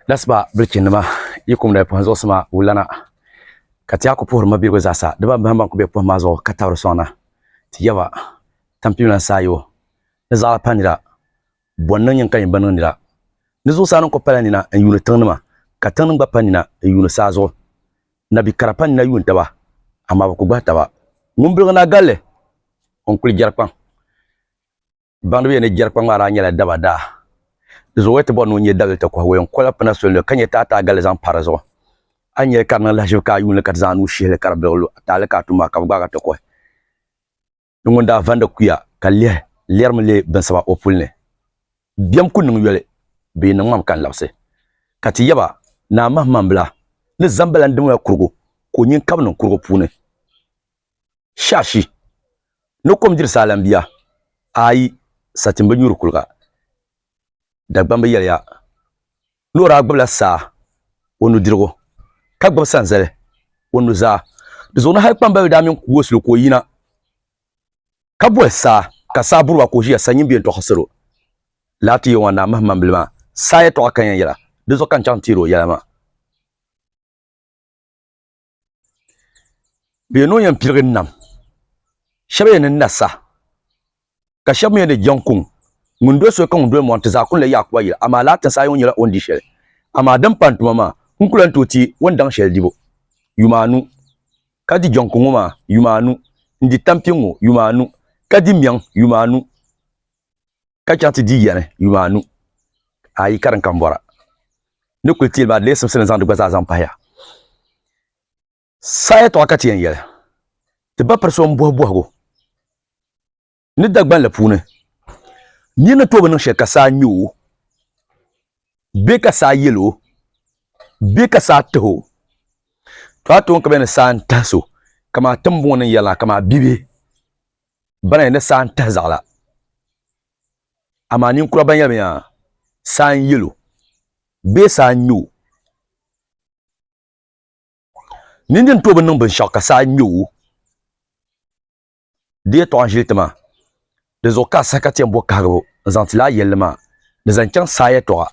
Lasiba bilichinnima yi kum dali pɔhim zuɣusima wulana ka ti a ku puhiri mabiligu zaasa di ban bahim ban ku be pɔhim maa zuɣu ka tabiri sɔŋna ti yaba tampim lan saa yo ni zaɣila pa nira bɔn niŋ nyin ka nyin bi niŋ nira ni zuɣusaa niŋ ku pala nina n yuuni tiŋnima ka tiŋnim gba pa nina n yuuni saa zuɣu nabi kara pa nina yuun taba amaa bi ku gbahi taba ŋun biligu naa galli o n kuli jɛri kpaŋ Baŋdibiya ni jɛri kpaŋ maa daa nyɛla daba daa. Di zuɣu o yi ti bɔri ni o nyɛ dawili ti kɔhi o yɛn kola pina soli ka nyɛ taataagalli zaŋ pa di zuɣu. A ni nyɛ li ka di niŋ lahiʒibu ka a yuuni li ka ti zaŋ a nuu shihi li ka di biligi lu a taali ka a tum maa ka bi gbaag a ti kɔhi ni ŋun daa vandi kuya ka lihi lɛrimi leei binsaba o puli ni bɛm ku niŋ yoli bee ni ŋmam ka n labisi ka ti yaba ni a mahimambila ni zambala n-dim la kurigu ka o nyin kab niŋ kurigu puuni. Shashi ni kom diri saalan bia ayi satin bi nyuri kuliga. Dagbamb yɛliya ni o daa gbibila saa o nudirigu ka gbibi sanzali o nuzaa. Di zuɣu ni hal kpambaliba daa mini Kuosilo ka o yina ka boli saa ka saa buri ba ka o ʒiya sa nyimbiɛ n-tɔɣisi salo. Laa ti Yawɛ Naa mahimmambili maa saa yɛtɔɣa ka yɛn yɛla, di zuɣu ka n chaŋ n-teeri o yɛla maa. bɛ yɛn niŋ yɛn pirigi nam shab yɛn ni na sa ka shab mii yɛn ni jɛŋ kuŋ ŋun doli soli ka ŋun doli mɔri ti zaa kuli la Yaakubu yili amaa lala tinsi ayi ŋɔ nyɛla o ni di shɛli amaa din pam tuma maa n ku lahi tooi teei o ni daŋ shɛli dibu yuma anu ka di jɛŋ kuŋ ŋɔ maa yuma anu n di tampiŋ ŋɔ yuma anu ka di mɛŋ yuma anu ka chaŋ ti di yɛni yuma anu, ayi ka din kam bɔra ni kuli teeli maa di lee simsi ni zaŋ di gba zaa zaŋ pahiya. Saha yɛtɔɣa ka ti yɛn yɛli, ti ba piri so m-bɔhi bɔhigu ni Dagbanli puuni, nir ni tooi bi niŋ shɛli ka saa ŋme o bee ka saa yɛl o bee ka saa tah o, tɔha toon ka bɛ ni saa n-tahi so, kaman tiŋbuŋ ni n yɛli na, kaman bibihi. Bana ni saa n-tahi zaɣila, amaa ninkura ban yɛli yaa, Saa n-yel o, bee Saa n-ŋme o. Nindini tooi bi niŋ binshɛɣu ka saa ŋme o. Di yɛtɔɣa n-ʒili ti maa. Dinzuɣu ka a saha ka ti yɛn bo kahigibu n-zaŋ ti lala yɛlli maa ni zaŋ chaŋ saa yɛtɔɣa.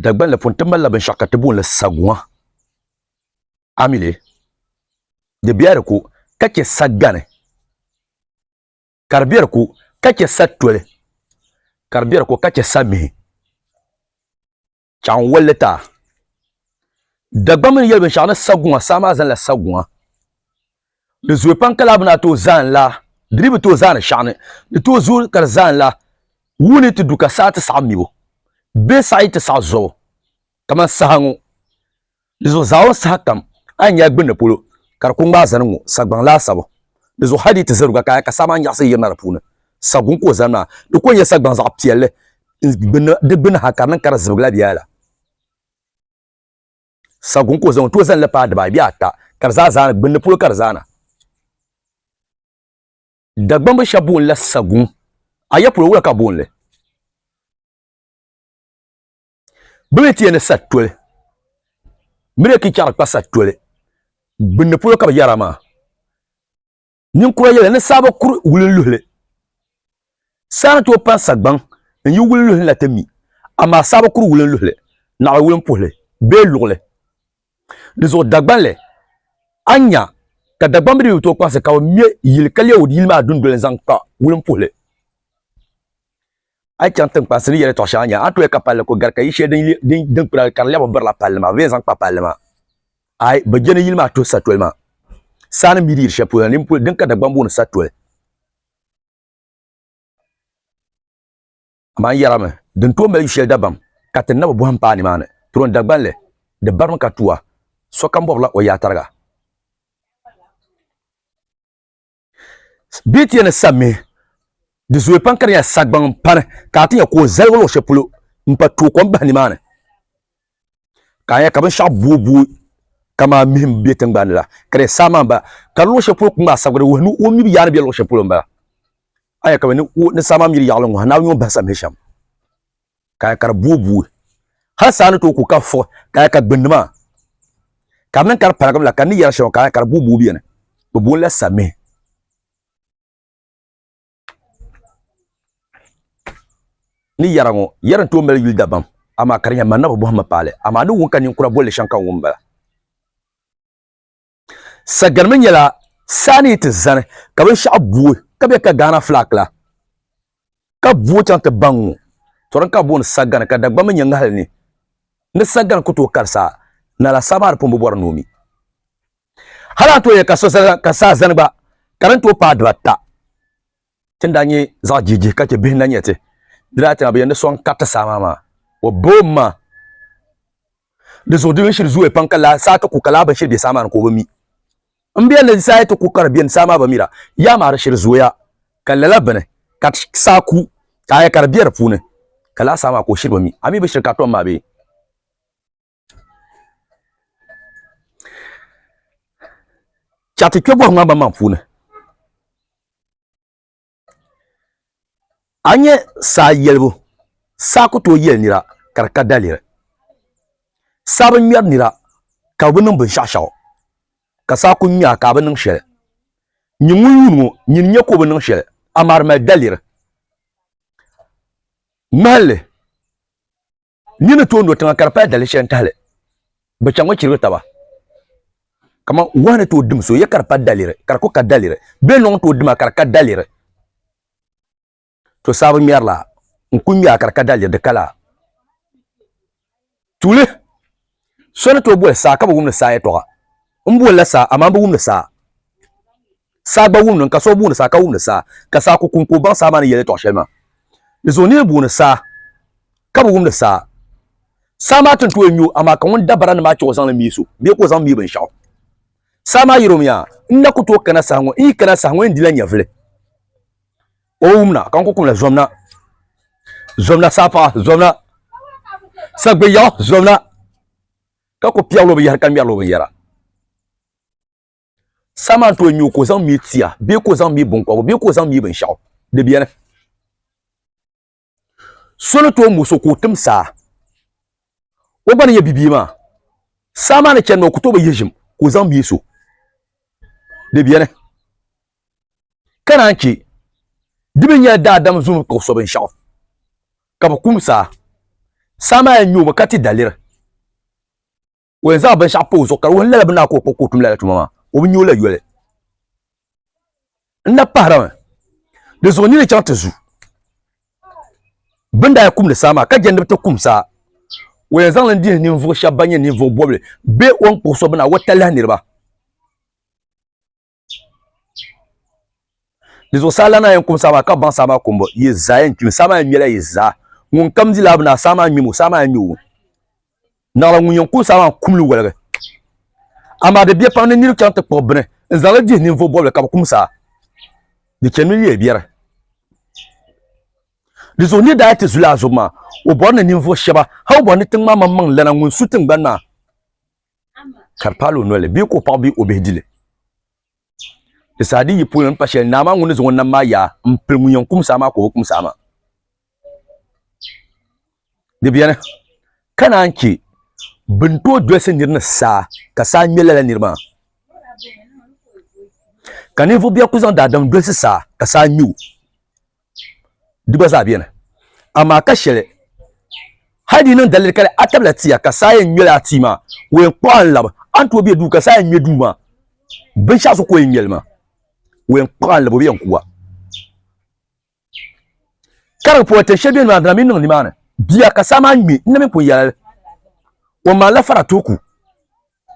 Dagbanli puuni ti malila binshaɣu ka ti boonli saguŋa a mi li di biɛla di ko ka chɛ sagani ka di biɛla di ko ka chɛ satoli ka di biɛla di ko ka chɛ samihi chɛɣu n wolli taa Dagbaŋ mii ni yɛli binshaɣu ni saguŋa saa maa zaŋla saguŋa Di zuye pam ka laa bi na tooi zaani laa, di dii bi tooi zaani shɛɣu ni. Di tooi zuui ka di zaani laa, wuu ni ti du ka saɣi ti saɣi mibu bee saɣi ti saɣi zuɣu kamani saha ŋɔ. Dizuɣu zaawuni saha kam a ni nya a gbinni polo ka di ku ŋmaai zani ŋ-ŋɔ sagbaŋ laasabu. Dizuɣu hal di yi ti zaruga ka a nya ka saha maa nyaɣisi yirina di puuni, saguŋ ka o zani maa. Di ku ni nyɛ sagbaŋ zaɣ piɛlli n-gbinni di gbinni ha ka di niŋ ka di zibigi la bɛ yaya la. saguŋ ka o zaŋ tooi zalili paai dibaayi bee ata ka di zaa zaana gbunni polo ka di zaana dagbambi shɛba boonila saguŋ ayapolo wula ka boonili bɛ mi ti yɛli ni satoli bɛ ni yɛli kichɛɣu kpa satoli gbunni polo ka bɛ yɛra maa Ninkura yɛli ni saaba kuri wulinluhili. Saa ni tooi pan sagbaŋ n-yi wulinluhi ni na ti mi, amaa saaba kuri wulinluhili naɣila wulimpuhili bee luɣili. Di zuɣu Dagbanli, a ni nya ka Dagbamb dii bi tooi kpaŋsi ka bɛ me yili ka leei yili maa dundoli n-zaŋ kpa wulimpuhili. a yi chaŋ tiŋkpani sili yɛlitɔɣ shɛŋa nya, a tooi ka palli ko gari ka yi shɛli din kpira ka di lɛbi birila palli maa, bee zaŋ kpa palli maa. Aai, bɛ je ni yili maa tuhi satoli maa. Saa ni mi di yiri shɛli polo na, din ka Dagbani booni satoli. Amaa n yɛrimi, di ni tooi mali yu shɛli dabam ka ti nabi bɔhim paai nimaani. Turon Dagbani li, di barimi ka tuwa, sokam bɔbirila o yaatariga. Bee ti yɛn ni sa mihi di zooi pam ka di nyɛla sagbaŋ n pani ka a ti nyɛ ka o zaligi luɣu shɛli polo n pa tooi kom bahi nimaani ka a nyɛ ka binshaɣu booi booi kamani mihi n bɛ tingbanni la ka di yɛn saa maa n bala ka di luɣu shɛli polo ku ŋmaai sabigi di wuhi ni o mii bi yaa ni bɛ luɣu shɛli polo n bala a ni yɛn ka ni saa maa miri yaɣali n ŋɔhi naawuni ni o bahi sa mihi shɛm kaya ka di buui buui hali saa ni tooi ku ka fui kaya ka gbunni maa ka di niŋ ka di paligim la ka ni yɛri shɛŋa kaya ka di buui buui biɛni bi boonila samihi ni yɛra ŋo yɛri n tooi mali yuli dabam amaa ka di nyɛ manna bi bohammi paali amaa ni wum ka ninkura bolili shɛm ka n wum bala Saganimi nyɛla saa ni yi ti zani ka binshɛɣu booi ka bɛ ka Ghana flag la ka booi chaŋ ti baŋ ŋɔ to din ka booni sagani ka Dagbamba nyɛ ŋahili ni ni sagani ku tooi kari saa nala saa maa di pun bi bɔri ni o mi hali a ni tooi yɛli ka saa zani gba ka din tooi paai dibata. ti ni daa nyɛ zaɣ jihijihi ka chɛ bihi na nya ti, di daa chaŋla bɛ yɛn ni sɔŋ kariti saa maa maa. O boom maa di zuɣu di binshiri zooya pam ka laa saa ti ku ka laa binshiri be saa maa ni ka o bi mi. M biɛl ni saa yi ti ku ka di beni saa maa bi mi la, yaa maa di shiri zooya ka lala bini ka saa ku ka a nya ka di be di puuni ka laa saa maa ka o shiri bi mi. A mi bi shiri ka a tom maa bee? Chɛ ti kpɛbɔhi ŋmaa banmaŋ puuni. A nyɛ saa yɛlibu, saa ku tooi yɛli nira ka di ka daliri. Saa bi ŋmɛri nira ka o bi niŋ binshɛɣu shɛɣu, ka saa ku ŋmɛ a ka a bi niŋ shɛli. Nyi ŋun yuun ŋɔ, nyini nya ka o bi niŋ shɛli, amaa di mali daliri. Ŋmahinli. Ni ni tooi lo tiŋa ka di pali dalili shɛli n-tahili bɛ chaŋ ŋɔ chirigi taba. Kaman wahu ni tooi dim so ya ka di pa daliri, ka di ku ka daliri, bee lɔŋ tooi dima ka di ka daliri, to sabi ŋmɛrila n-ku ŋmɛ a ka di ka daliri, di kala. Tuuli, So ni tooi boli saa ka bi wum ni saa yɛtɔɣa, M bolila saa, amaa m bi wum ni saa. Saa gba wumni n ka so booni saa ka wumni saa, ka saa ku kum ka o baŋ saa maa ni yɛltɔɣ shɛli maa. Di zuɣu nir booni saa, ka bi wumni saa. Saa maa tin tooi nyo, amaa ka ŋun dabara ni maa chɛ o zaŋ li mi so bee ka o zaŋ mi binshɛɣu. Saa maa yɛl o mi, Aa! N na ku tooi kana saha ŋɔ, n yi kana saha ŋɔ yɛn dila nyɛvili. O bi wumna, ka n ku kumna, Zomna, zomna saa paɣa, zomna, sagbiyaɣu, zomna! Ka ku piɛgl o binyɛhiri ka ŋmɛril o binyɛra. Sama n-tooi mi o ka o zaŋ mi tia bee ka o zaŋ mi binkɔbigu bee ka o zaŋ mi binshɛɣu. Di beni. So ni tooi mo so ka o tim saa, o gba ni nyɛ bibia maa. Saa maa ni chani maa o ku tooi bi yihi ʒim ka o zaŋ mi so. Di beni. Ka naan chɛ di mi nyɛla daadam zuŋ ka o so binshɛɣu, ka bi kum saa. Saa maa yɛn mi o mi ka ti daliri. o yɛn zaŋ binshaɣu pa o zuɣu ka di wuhi lala bi naa ka o kpuɣi ka o tum lala tuma maa o bi nyɛ o la yoli n na pahirami di zuɣu nini chaŋ ti zu bin daa kumdi saa maa ka jɛ ni bi ti kum saa o yɛn zaŋli dihi ninvuɣu shɛba ban nyɛ ninvuɣu bɔbili bee o ni kpuɣi so bi naa o talahi niriba Di zuɣusaa lana yɛn kum saama ka baŋ saama kumbu, yi zaa yɛn kpimi, saama yɛn ŋmɛla yi zaa. Ŋun kam di laabu naa, saama ŋmimi, saama yɛn ŋme o. Naɣila ŋun yɛn kum saama maa kumli waligi. Amaa di biɛ pam ni niriba chaŋ ti kpuɣi bini n-zaŋ li dihi ninvuɣ bɔbili ka bɛ kum saa. Di chanimi leei biɛri. Di zuɣu nir daa yi ti zuli a zubu maa, o bɔri ni ninvuɣ shɛba, hal o bɔri ni tiŋ maa maŋmaŋ lana ŋun su tiŋgbani maa. ka di paali o noli bee ka o paɣa bee o bihi dili di saa din yi polo n pa shɛli naa maa ŋun ni zaŋ o nam maa yaa n pili ŋun yɛn kum saa maa ka o bi kum saa maa di biɛni ka naan chɛ bin tooi dolisi niri ni saa ka saa ŋmɛ lala niri maa ka ninvuɣu bia ku zaŋ daadam dolisi saa ka saa ŋmɛ o di gba zaa beni. Amaa ka sheli, hali di yi niŋ daliri kali a tabila tia ka saa yen ŋmeli a tia maa, o yen kpuɣi a n-labi. A ni tooi be duu ka saa yen ŋme duu maa, binshɛɣu so ka o yen ŋmeli maa, o yen kpuɣi a n-labi, o bi yen ku a. Ka di pɔi tin sheli beni maa, di na mi niŋ nimaani. Bia ka saa maa ŋme, n na mi pun yɛli li. O ni maa lahi fara tooi ku,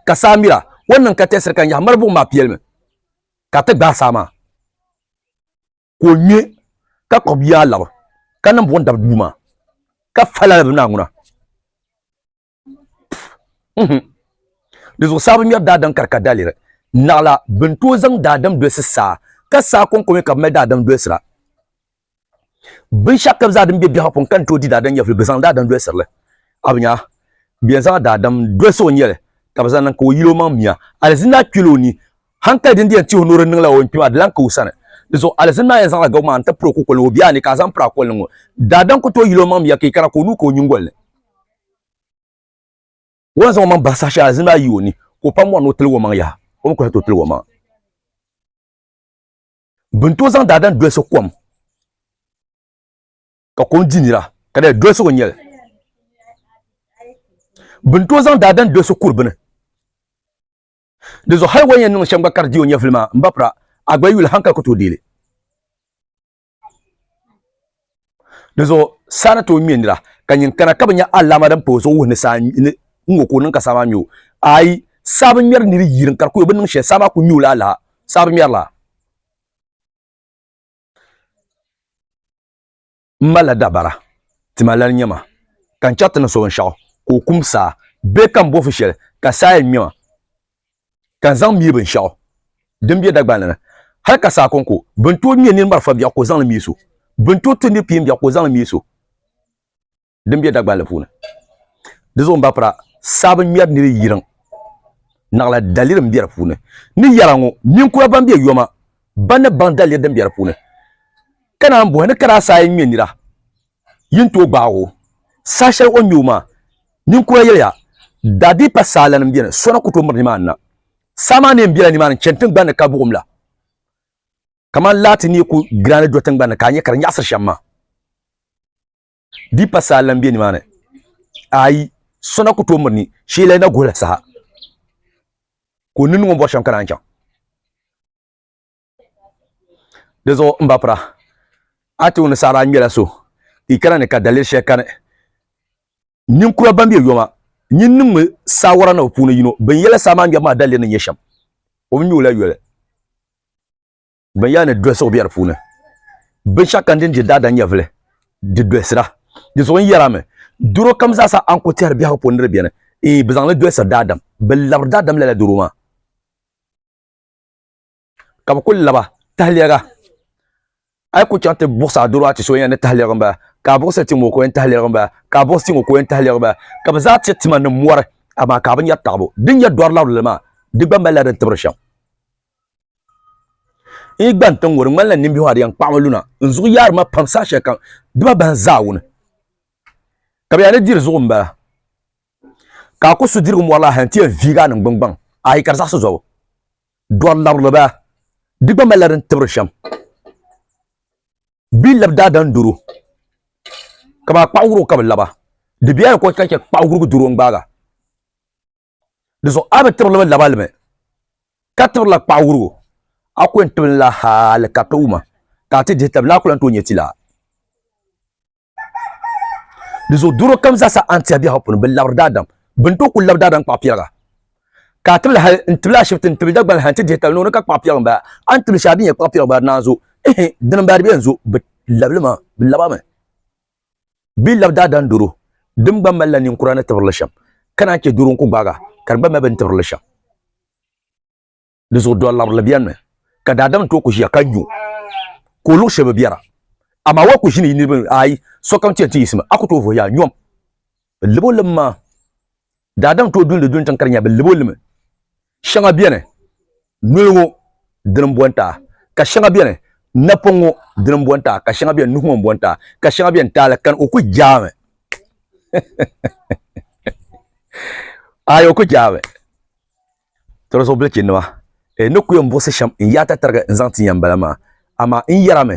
ka saa miri a. O ni niŋ ka tɛɣisiri ka n yahi miri buɣim maa piɛlimi, ka ti gbaai saa maa. ka o ŋmɛ ka kpuɣi bia alabi ka niŋ buɣum dabi duu maa ka fali alabi maa ŋuna di zuɣusaa bi ŋmɛri daadam ka di ka daliri naɣala bin tooi zaŋ daadam dolisi saa ka saa konkomi ka bi mali daadam dolisira binshaɣu ka bi zaa din bɛ biɛhaɣu puuni ka ni tooi di daadam nyɛvili bi zaŋ daadam dolisirili a bi nya bi yɛn zaŋla daadam dolisi o nyɛli ka bi zaŋ niŋ ka o yili o maŋ miya alizina kpɛla o ni hankali din di yɛn tihi o nuri niŋla o ni kpi maa di lan ka o sani di zuɣu alizin maa yɛn zaŋla gabu maa n-ti piri o kukoli ni o biɛha ni ka a zaŋ piri a koli ni ŋɔ daadam ku tooi yil o maŋ miya ka yi kana ka o nuu ka o nyingoli ni o ni zaŋ o maŋ bahi saha shɛli alizin maa yi o ni ka o pam mɔri ni o tiligi o maŋ yaha o mi ku lahi tooi tiligi o maŋ bɛ ni tooi zaŋ daadam dolisi kom ka kom di nira ka dali dolisigu n-nyɛ li bɛ ni tooi zaŋ daadam dolisi kuri bini Di zuɣu hali o ni yɛn niŋ shɛm gba ka di di o nyɛvili maa m ba pira, a gba yi yuli hankali ku tooi deei li. Di zuɣu saa ni tooi ŋme nira ka nyin kana ka bi nya alaama din pa o zuɣu wuhi ni saa ni ŋ-ŋɔ ka o niŋ ka saa maa ŋme o. Aai! Saa bi ŋmɛri nir yirim ka di ku o bi niŋ shɛli, saa maa ku ŋme o la alaha. Saa bi ŋmɛri la. n malila dabara tima lali nyɛma ka n chɛri ti ni so binshaɣu ka o kum saa bee ka n bɔfu shɛli ka saa yɛn ŋmɛma ka n zaŋ mihi binshaɣu din bɛ Dagbani ni hali ka saa kɔŋko bɛ ni tooi ŋmɛ nini marafa biɛɣu ka o zaŋ li mihi so bɛ ni tooi ti ni piin biɛɣu ka o zaŋ li mihi so din bɛ Dagbani puuni di zuɣu n ba pira saa bi ŋmɛri ni di yiriŋ naɣila daliri n bɛ di puuni ni yɛra ŋɔ ninkura ban bɛ yoma ba ni baŋ daliri din bɛ di puuni ka naan bɔhi ni kara saa yi ŋmɛ nira yi ni tooi gbaag o saha shɛli o ni ŋmɛ o maa ninkura yɛliya daadiipa saa lana m-beni so na ku tooi miri nimaani na saa maa neen bela nimaani n-chani tiŋgbani ni ka buɣim la kamani laati ni yi ku gira ni do tiŋgbani ni ka a nya ka di nyaɣisiri shɛm maa Di pa saha lan be nimaani. Aai, so na ku tooi miri ni Sheelai na guhila saha ka o ninni ŋɔ bɔri shɛm ka naan chaŋ. Di zuɣu m ba Pira, a ti wum ni saɣiri a ŋmɛla so, yi kana ni ka daliri shɛli kani. Ninkura ban be yoma nyin ni ŋme saawara na bi puuni yino binyɛla saha maa ŋmɛbu maa daliri ni nyɛ shɛm, o bi ŋme o la yoli. bin yaa ni dolisigu bɛ di puuni binshaɣu kam din di daadam nyɛvili di dolisira di zuɣu n yɛra mi doro kam zaasa a ni ku tɛhiri biɛhagu puuni ni di biɛni ee bi zaŋli dolisiri daadam bi labiri daadam lala doro maa ka bi ku laba tahlɛga a yi ku chaŋ ti buɣusi a doro a ti so yɛn ni tahlɛgi n bala ka a buɣusi ti ŋɔ ka o yɛn tahlɛgi n bala ka a buɣusi ti ŋɔ ka o yɛn tahlɛgi n bala ka bi zaa ti tima ni mɔri amaa ka a bi nyɛri taɣabu din nyɛ dɔri labirili maa di gba malila din tibiri shɛm i gba n tiŋ ŋɔ di ŋmanila nimbihi adi yɛn kpaɣama luna n zuɣu yaari ma pam saha shɛli kam dima bahi n zaa wuni ka bi yaa ni diri zuɣu n bala ka a ku su dirigu mɔri la hali n ti yɛn viigi a ningbuni gbaŋ ayi ka di zaɣisi zuɣu dɔri labirili bala di gba malila din tibiri shɛm bɛ ni labi daadam doro ka bi a kpaɣi wuro ka bi laba di bɛla ni ka o ti lahi chɛ kpaɣi wurugu doro n gbaaga Di zuɣu a bi tiri limi laba limi, ka tiri la kpaɣu wurigu, a ku yɛn tibili la hali ka ti wuma, ka a ti dihi tabili a ku lan tooi nyɛ ti la. Di zuɣu doro kam zaa sa a ni tiɛhi biɛhigu puuni bi labiri daadam, bɛ ni tooi kuli labi daadam kpaɣu piɛliga, ka a tibili hali n tibili ashibiti n tibili Dagbani hali n ti dihi tabili ni o ni ka kpaɣu piɛliga m-bala, a ni tibili shɛli a bi nya kpaɣu piɛliga m-bala di naan zo, ihi, dini m-bala di bi yɛn zo bi labili ma, bi laba mi. bee labi daadam doro din gba malila ninkura ni tibirili shɛm, ka naan chɛ doro n-ku gbaaga ka di gba mali bɛ ni tibirili shɛm. Di zuɣu dɔlabirili bɛnimi, ka daadam tooi ku ʒiya ka nyu ka o luɣ shɛli bi biɛra. Amaa wal ku ʒini yi niriba ni, aai, sokam ti yɛn ti yiɣisimi, a ku tooi vuhiya nyom. Bɛ lib o lim maa. Daa daŋ ti o dundi duŋ tiŋ ka di nya bɛ lib o limi. Shɛŋa beni, noli ŋɔ dini m-bo n-taai, ka shɛŋa beni, napɔŋ ŋɔ dini m-bo n-taai, ka shɛŋa beni, nuhi ŋɔ m-bo n-taai, ka shɛŋa beni, taali kani. O ku jaami. Aai, o ku jaami. Tɔra zuɣu bilichinnima, n ni ku yɛn buɣisi shɛm n-yaai tatarigi n-zaŋ ti ya m-bala maa, amaa n yɛrimi.